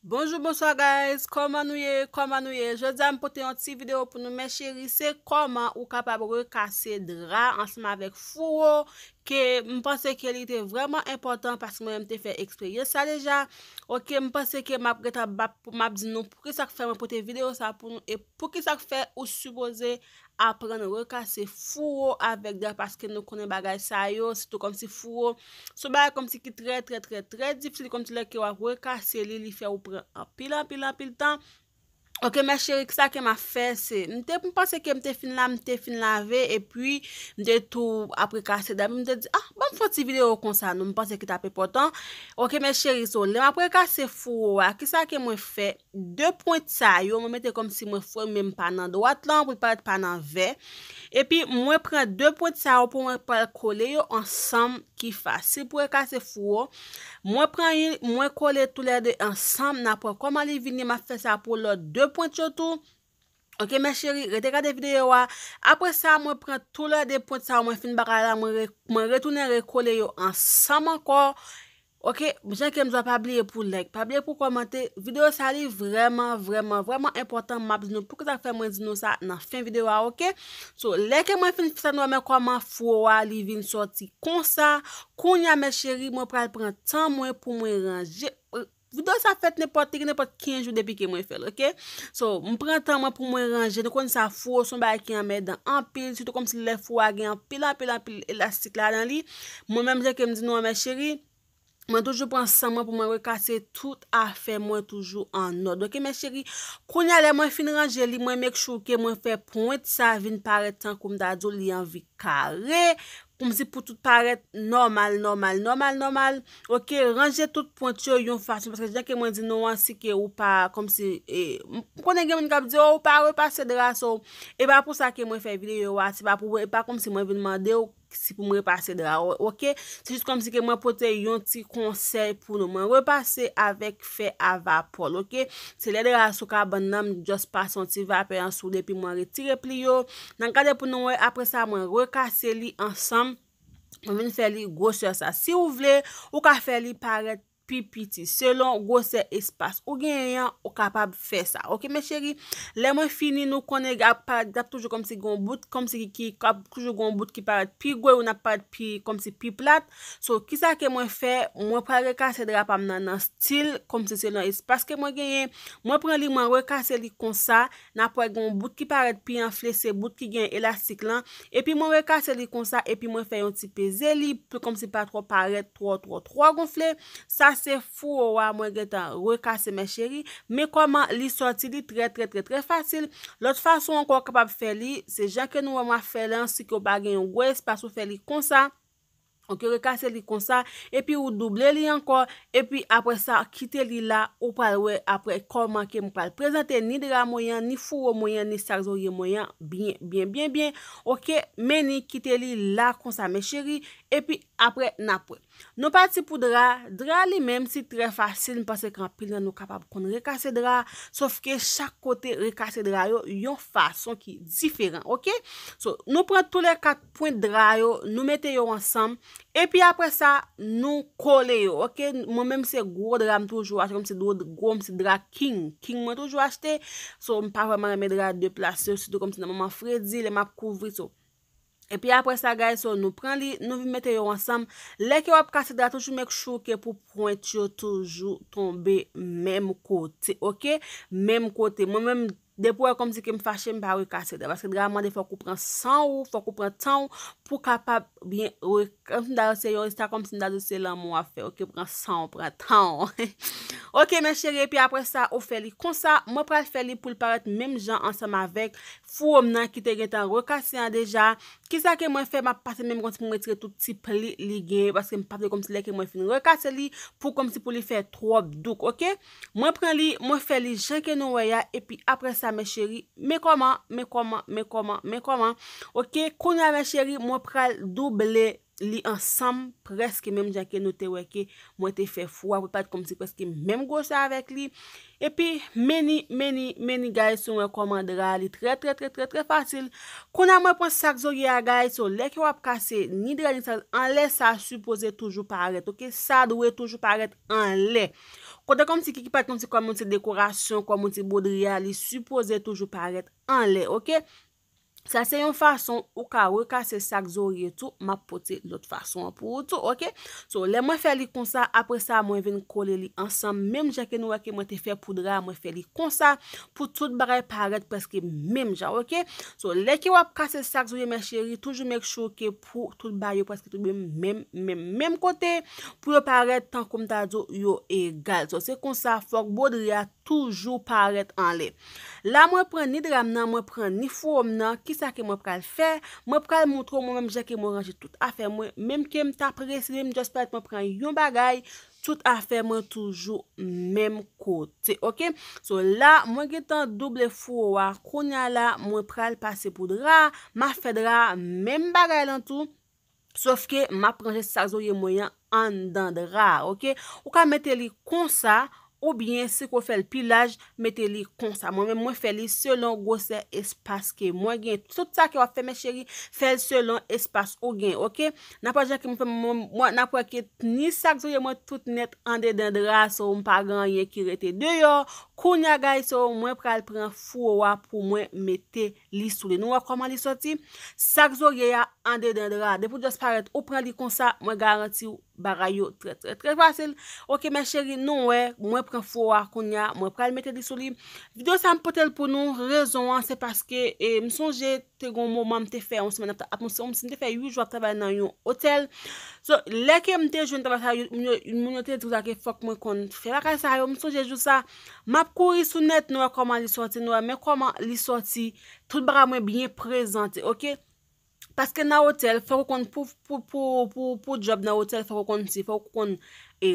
Bonjou bonswa guys kòman nou ye kòman nou ye jodi am pote yon ti video pou nou men cheri se kòman ou kapab rekase dra ansanm avèk fouwo ke m panse ke li te vreman enpòtan paske mwen menm te fè eksperyans sa deja ok m panse ke map gentan bap map di nou poukisa k fè mwen pote video sa pou nou e poukisa k fè ou sipoze aprann rekase fouro avèk dra paske nou konnen bagay sa yo sitou kòmsi fouro se yon bagay kòmsi ki trè trè trè trè difisil kòmsi lè ke wap rekase li li fè ou pran anpil anpil anpil tan ok mè cheri kisa ke map fè se m te m panse ke m te fin la m te fin lave epi m te tou ap rekase dra m te di ah banm fon ti video konsa non m panse ki tap enpòtan ok mè cheri so lè map rekase fouro a kisa ke mwen fè 2 pwent sa yo mwen mete kòm si mwen fwe menm pa nan dwat lan pou li parèt pa nan vè epi mwen pran 2 pwent sa yo pou mwen pral kole yo ansanm ki fas si pou ekase fouwo mwen pran yn mwen kole tou lè 2 ansanm nan pran kòman li vini map fè sa pou lòt 2 pwent yo tou Ok mes cherie rete gade video a apre sa mwen pran tou lè 2 pwent sa yo mwen fin bagay la mwen retounen rekole yo ansanm ankò ok jan kem di la pa bliye pou like pa bliye pou kòmante video sa li vrèman vrèman vrèman enpòtan map di nou pou ki sa fè mwen di nou sa nan fen video a ok so lè ke mwen fin fè sa nou wè men kòman fro a li vin sòti konsa kounya mes cherie mwen pral pran tan mwen pou mwen ranje. Video sa fèt nenpòt li gen nenpòt 15 jou depi ke mwen fèl ok so m pran tan mwen pou mwen ranje nou konn sa fouwo son bagay ki anmèdan anpil sitou kòmsi lè fouwo a gen anpil anpil anpil elastik ladan li mwen menm jan kem di nou an mes chéri mwen toujou pran san mwen pou mwen rekase tout afè mwen toujou an òd ok mes chéri kounya lè mwen fin ranje li mwen make sure ke mwen fè pwent sa vin parèt tankou m ta diw li anvi kare Ou m di pou tout parèt nòmal nòmal nòmal nòmal ok ranje tout pwent yo yon fason paske jan ke mwen di nou an si ke ou pa kòmsi e m konnen gen moun k ap di o ou pa repase dra so e pa pou sa ke mwen fè videyo a se pa pou e pa kòmsi mwen vin mande w si pou m repase dra ou ok se jis kòmsi ke mwen pote yon ti konsèy pou nou mwen repase avèk fè a vapòl ok se lè dra a sou kabann nan m just pase yon ti vapè an sou li epi mwen retire pli yo nan gade pou nou wè aprè sa mwen rekase li ansanm mwen vin fè li gwosè sa si ou vle ou ka fè li parèt pi piti selon gwosè espas ou genyen an ou kapab fè sa ok mes cheri lè mwen fini nou konnen ap parèt ap toujou kòmsi gen yon bout kòmsi ki ap toujou gen yon bout ki parèt pi gwo e youn ap parèt pi kòmsi pi plat So kisa ke mwen fè, mwen pral rekase dra pa m nan nan stil kòm si se nan espas ke mwen genyen, mwen pran li mwen rekase li konsa, n ap wè gen yon bout ki parèt pi anfle se bout ki gen elastik lan, epi mwen rekase li konsa epi mwen fè yon ti peze li pou kòm si l pa twò parèt twò twò twò gonfle, sa se fouwo a mwen gentan rekase mes cherie, men kòman li sòti li trè trè trè trè fasil, lòt fason ankò ou kapab fè li, se jan ke nou wè mwen ap fè lan si ke ou pa gen yon gwo espas ou fè li konsa. Ok rekase li konsa epi ou double li ankò epi aprè sa kite li la ou pral wè aprè kòman ke m pral prezante ni dra mwen an ni fouwo mwen an ni sak zorye mwen an byen byen byen byen ok menni kite li la konsa mes chéri epi aprè nap wè nou pati pou dra dra li menm si trè fasil m panse ke anpil nan nou kapab konn rekase dra sof ke chak kote rekase dra yo yon fason ki diferan ok so nou pran tou le kat pwent dra yo nou mete yo ansanm epi aprè sa nou kole yo ok mwen menm se gwo dra m toujou achte kòmsi dwo gwo m se dra king king mwen toujou achte so m pa vrèman renmen dra de plas yo sitou kòmsi nan moman fredi lè m ap kouvri so epi aprè sa guys so nou pran li nou vin mete yo ansanm lè ke w ap kase dra toujou make sure ke pou pwent yo toujou tonbe menm kote ok menm kote mwen menm Depi ou wè kòmsi ke m fache m pa rekase dra paske dra mande fòk ou pran san ou, fòk ou pran tan ou pou w kapab byen re kòmsi m ta di se yon se ta kòmsi m ta di se lanmou w ap fè ok pran san ou pran tan ou ok men cheri epi aprè sa ou fè li konsa mwen pral fè li pou l parèt menm jan ansanm avèk fouwo m nan ki te gentan rekase an deja kisa ke mwen fè m ap pase menm kòmsi pou m retire tout ti pli li gen yo paske m pa vle kòmsi lè ke mwen fin rekase li pou kòmsi pou li fè twòp douk ok. Mwen pran li, mwen fè li jan ke nou wè ya epi aprè sa mes chéri, men kòman, men kòman, men kòman, men kòman, ok, kounya mes chéri mwen pral double li ansanm prèske menm jan ke nou te wè ke mwen te fè fou a, pou pat kòmsi prèske menm gwosè avèk li, epi meni, meni, meni guys nou wè kòman dra li trè trè trè trè trè fasil, kounya mwen pran sak zorye a guys, so lè ke wap kase ni dra ni sa anlè sa sipoze toujou parèt ok, sa dwe toujou parèt anlè. Kote kòm si kiki pat kòm si kòm yon ti dekorasyon, kòm yon ti bodri a, li sipoze toujou parèt anlè, ok? Sa se yon fason ou ka rekase sak zorye tou, map pote lòt fason an pou ou tou, ok? So, lè mwen fè li konsa, apre sa mwen vin kole li ansanm, menm jan ke nou wè ke mwen te fè pou dra a, mwen fè li konsa, pou tout bagay parèt preske menm jan, ok? So, lè ke wap kase sak zorye mes cherie, toujou make sure ke. pou tout bagay yo prèske tonbe menm menm menm kote pou yo parèt tankou m ta di w yo egal. So se konsa fòk bwodri a toujou parèt anlè. La mwen pran ni dra m nan, mwen pran ni fouwo m nan, kisa ke mwen pral fè? Mwen pral montre w mwen menm jan ke mwen ranje tout afè mwen, menm ke m ta prese menm just paret mwen pran yon bagay Tout afè mwen toujou menm kote ok so la mwen gentan double fouwo a kounya la mwen pral pase pou dra a map fè dra a menm bagay lan tou sof ke map ranje sa zorye mwen an anndan dra a ok ou ka mete li konsa oubyen si ke w fè l pi laj mete li konsa mwen menm mwen fè li selon gwosè espas ke mwen gen tout sa ke wap fè mes cheri fèl selon espas ou gen ok nap wè jan ke mwen fè mwen nap wè ke ni sak zouye mwen tout nèt andedan dra so m pa gen anyen ki rete deyò kounya gayz so mwen pral pran fouwo a pou mwen mete li sou li nou wè kòman li sòti sak zorye a andedan dra depi w just parèt ou pran li konsa mwen garantiw Bagay yo trè trè trè fasil ok mes cherie nou wè mwen pran fo a kounya mwen pral mete li sou li video sa m potel pou nou rezon an se paske m sonje te gon moman m te fè yon semèn ap m te fè 8 jou ap travay nan yon otèl so lè ke m te jwenn travay sa yo moun yo te di sa ke fòk mwen konn fè bagay sa yo m sonje jou sa map kouri sou nèt nou wè kòman li sòti nou wè men kòman li sòti tout bagay mwen byen prezante ok. Paske nan otèl fòk ou konn pou djòb nan otèl fòk ou konn si fòk ou konn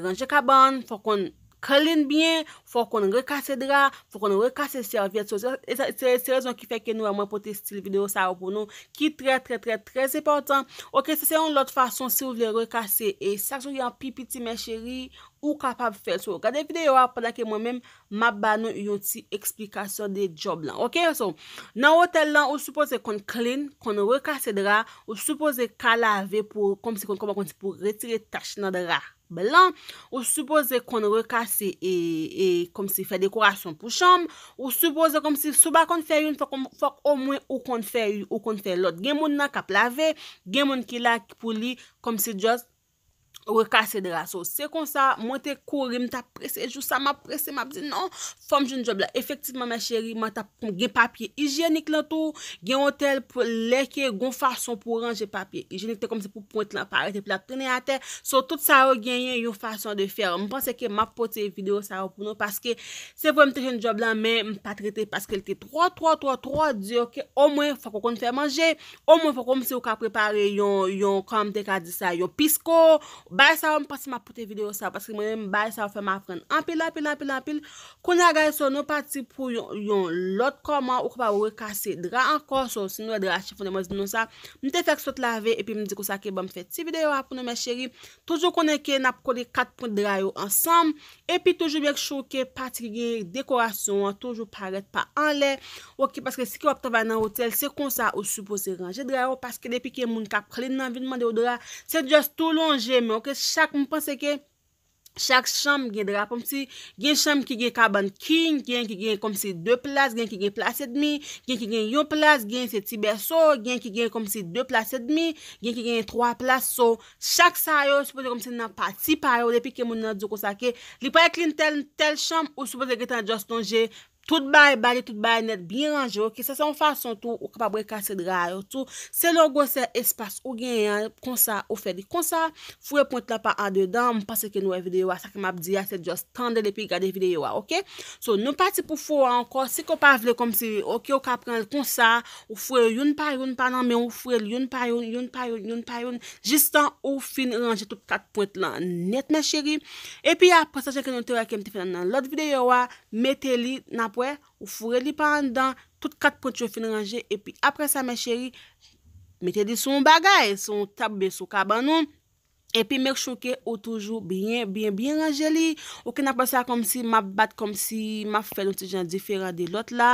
ranje kabann fòk ou konn klin byen fòk ou konn rekase dra fòk ou konn rekase sèvyèt sou se rezon ki fè ke nou wè mwen pote stil videyo sa yo pou nou ki trè trè trè trè enpòtan ok se yon lòt fason si ou vle rekase e sak sou gen pi piti mè cheri ou kapab fè so gade videyo a pandan ke mwen menm Map ba nou yon ti eksplikasyon de job lan ok so nan hotel lan ou sipoze konn clean konn rekase dra ou sipoze ka lave pou komsi konn kòman konn pou retire tach nan dra blan ou sipoze konn rekase e e komsi fè dekorasyon pou chanm ou sipoze komsi si w pa konn fè youn fòk ou fòk omwen ou konn fè ou konn fè lòt gen moun nan kap lave gen moun ki la pou li komsi just rekase dra so se konsa mwen te kouri m tap prese jou sa map prese map di non fòm jwenn djòb la efektivman mè cheri mwen tap gen papye ijyenik lan tou gen yon tèl pou lè ke gon fason pou ranje papye ijyenik te kòmanse pou pwent lan parèt epi lap tounen atè so tout sa yo genyen yon fason de fè m panse ke map pote video sa yo pou nou paske se vre m te jwenn djòb la men m pat rete paske l te twò twò twò twò di ok omwen fòk ou konn fè manje O mwen poko msi ou ka prepare yon, yon kòmanm te ka di sa, yon pisco, bagay sa yo m panse map pote video sa paske mwen menm bagay sa yo fèm aprann anpil anpil anpil anpil Kounye a guys so nou pati pou yon, yon lòt kòman ou kapab rekase dra ankò so si nou wè dra a chifonnen mwen di nou sa M te fèk sot lave epi m di konsa ke banm fè ti video a pou nou mes cheri Toujou konnen ke nap kole 4 pwent dra yo ansanm, epi toujou make sure ke pati ki gen dekorasyon an toujou parèt pa anlè ok paske si ke wap travay nan otèl se konsa ou sipoze ranje dra yo paske depi ke moun kap clean nan vin mandew dra se just tou lonje men ok chak m panse ke chak chanm gen dra poum si gen chanm ki gen kabann king gen ki gen komsi 2 plas gen ki gen plas edmi gen ki gen yon plas gen se ti bèso gen ki gen komsi 2 plas edmi gen ki gen 3 plas so Chak sa yo sipoze kòmnse nan pati pa yo depi ke moun nan diw konsa ke li pral klin tèl tèl chanm ou sipoze gentan just lonje tout bagay ba li tout bagay nèt byen ranje ok sa se yon fason tou ou kapab rekase dra a yo tou selon gwosè espas ou genyen an konsa ou fè li konsa foure pwent la pa andedan m panse ke nou wè videyo a sa ke map di a se just tandel epi gade videyo a ok so nou pati pou fo a ankò si ke ou pa vle kòmsi ok ou ka pranl konsa Ou fwe yo youn pa youn pa nan men ou fwe l youn pa youn, youn pa youn, youn pa youn jistan ou fin ranje tout kat pwent lan nèt mes chéri epi aprè sa jan ke nou te wè kem te fè nan nan lòt videyo a mete li nap wè ou foure li pa anndan tout kat pwent yo fin ranje epi aprè sa mes chéri mete li sou yon bagay sou yon tab oubyen sou kabann ou. Epi make sure ke ou toujou byen byen byen ranje li, ou konn ap wè sa kòmsi map bat kòmsi map fèl yon ti jan diferan de lòt la,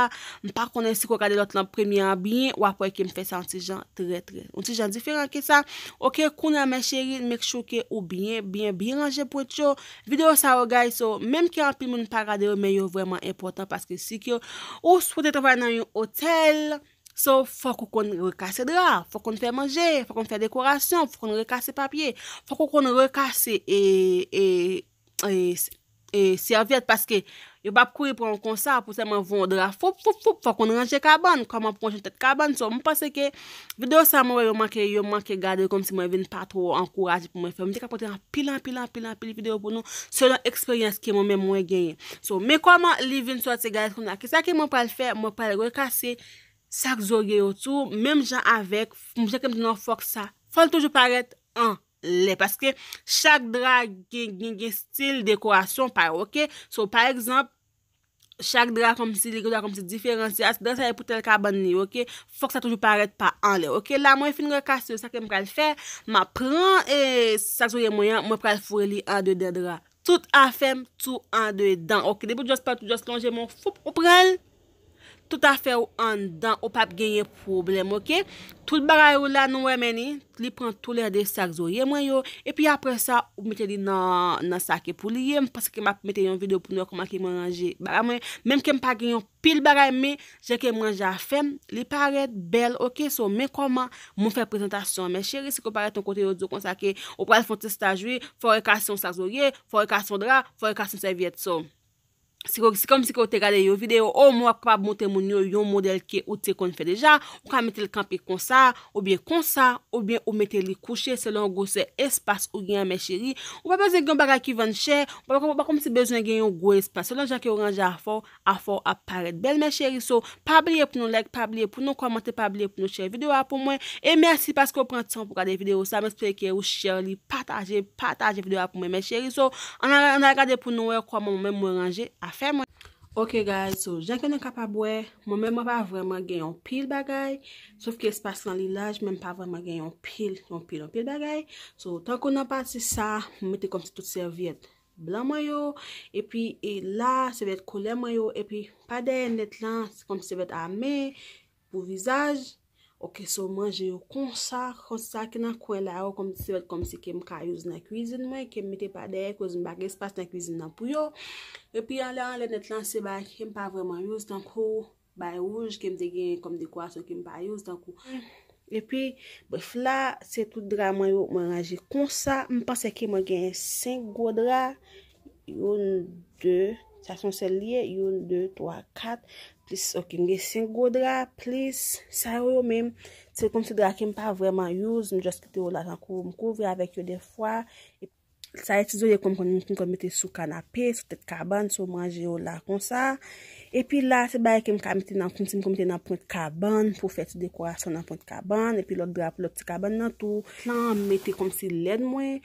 m pa konnen si ke w gade lòt lan premye an byen wap wè ke m fè sa yon ti jan trè trè yon ti jan diferan ke sa ok kounye an mes chéries make sure ke ou byen byen byen ranje pwent yo, videyo sa yo guys yo menm ke anpil moun pa gade yo men yo vrèman enpòtan paske si ke ou swete travay nan yon otèl. So, fòk ou konn rekase dra, fòk ou konn fè manje, fòk ou konn fè dekorasyon, fòk ou konn rekase papye, fòk ou konn rekase sèvyèt paske yo pa ap kouri pran w konsa pou sèlman voye yon dra foup foup foup, fòk ou konn ranje kabann, kòman pou ranje tèt kabann. So, m panse ke videyo sa mwen wè yo manke, yo manke gade l kòmsi mwen vin pa twò ankouraje pou mwen fè l. M te ka pote anpil anpil anpil anpil videyo pou nou selon eksperyans ke mwen menm mwen genyen. So men kòman li vin sòti guys kounya kisa ke mwen pral fè mwen pral rekase sak zorye yo tou menm jan avèk jan kem di nou an fòk sa fòl toujou parèt an lè paske chak dra gen gen stil dekorasyon pa yo ok so pa egzanp chak dra kòmsi li gen dwa kòmsi diferan si dra sa e pou tèl kabann li ok fòk sa toujou parèt pa an lè ok la mwen fin rekase yo sa kem pral fè map pran e sak zorye mwen an mwen pral foure li andedan dra. Tout afèm tou andedan ok depi ou just pati ou just lonje men w foup ou pranl tout afè ou anndan ou pap genyen pwoblèm ok tout bagay ou la nou wè men ni li pran tou lè 2 sak zorye mwen yo epi aprè sa ou mete li nan sa ki pou li ye paske map mete yon videyo pou nou wè kòman ke mwen ranje bagay mwen menm ke m pa gen yon Pil bagay men Jan ke manje a fèm li parèt bèl ok so men kòman Mwen fè prezantasyon an men cheri si ke ou parèt yon kote yo diw konsa ke ou pral fè yon ti staj wi fò rekase yon sak zorye fò rekase yon dra fò rekase yon sèvyèt so si ke se kòmsi ke ou te gade yon videyo o mwen wap kapab montre moun yo yon modèl ke ou te konn fè deja ou ka metel kanpe konsa oubyen konsa oubyen ou mete li kouche selon gwosè espas ou gen an men cheri ou pa bezwen gen yon bagay ki vann chè ou pa kòmsi bezwen gen yon gwo espas selon Jan ke ou ranje afèw Afèw ap parèt bèl mes cherie so pa bliye pou nou like pa bliye pou nou kòmante pa bliye pou nou share video a pou mwen e mèsi paske ou pran tan pou gade video sa m espere ke ou share li pataje pataje video a pou mwen mes cherie so an al gade pou nou wè kòman mwen menm mwen ranje afè mwen. Ok guys so jan ke nou kapab wè mwen menm mwen pa vrèman gen yon pil bagay sof ke espas lan li laj men m pa vrèman gen yon pil yon pil yon pil bagay so tankou nan pati sa m mete kòmsi tout sèvyèt blan mwen yo, epi e la se vèt koulè mwen yo, epi pa dèyè nèt la, se kòm si se vèt ame, pou vizaj, ok so manje yo konsa, konsa sa ki nan kwen la yo, kòm si se vèt kòm si kem ka youse nan kwizin mwen, kem mete pa dèyè, koz m pa gen espas nan kwizin nan pou yo, epi anlè anlè nèt la se bagay kem pa vreman youse, tankou. Bay wouj ke m te genyen kòm dekorasyon ke m pa youse tankou. Epi, bref la, se tout dra mwen yo mwen ranje konsa. M panse ke mwen genyen 5 gwo dra. Youn, 2, sa son sèl li ye. Youn, 2, 3, 4, plis, ok, m gen 5 gwo dra, plis sa yo yo menm. Se kòmsi dra ke m pa vreman youse, m just kite yo la tankou m kouvri avèk yo defwa. Sa e ti zo ye konn konn moun ki konn mete sou kanape, sou tèt kabann, sou manje yo la konsa. E pi la se bagay ke m ka mete nan, m ti m konn mete nan pwent kabann pou fè ti dekorasyon nan pwent kabann. E pi lòt dra pou lòt ti kabann nan tou. Plan an m mete konm si lèn mwen.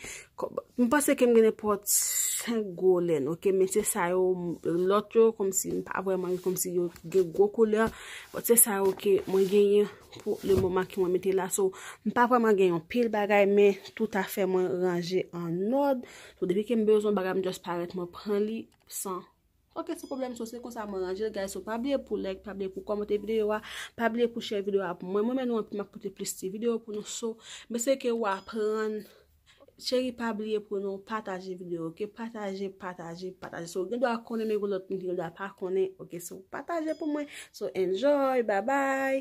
M panse ke m gen nenpòt 5 gwo lèn ok. Men se sa yo, lòt yo konm si m pa vwèman konm si yo gen gwo koulè. Bòt se sa yo ke mwen genyen. pou le moman ki mwen mete la. So, m pa vreman gen yon pil bagay, men tout afè mwen ranje an nòd. So, depi ke m bezwen yon bagay, m just parèt mwen pran li, san. Ok, se problem, so se konsa mwen ranje l, guys. So, pa bliye pou like, pa bliye pou komante video a, pa bliye pou share video a pou mwen. Mwen renmen nou anpil, m ap pote plis ti video pou nou. So, m eseye ke ou aprann. Cheri pa bliye pou nou pataje video ok pataje pataje pataje so gen dwa konnen men gen lot moun ki gen dwa pa konnen ok so pataje pou mwen so enjoy babay.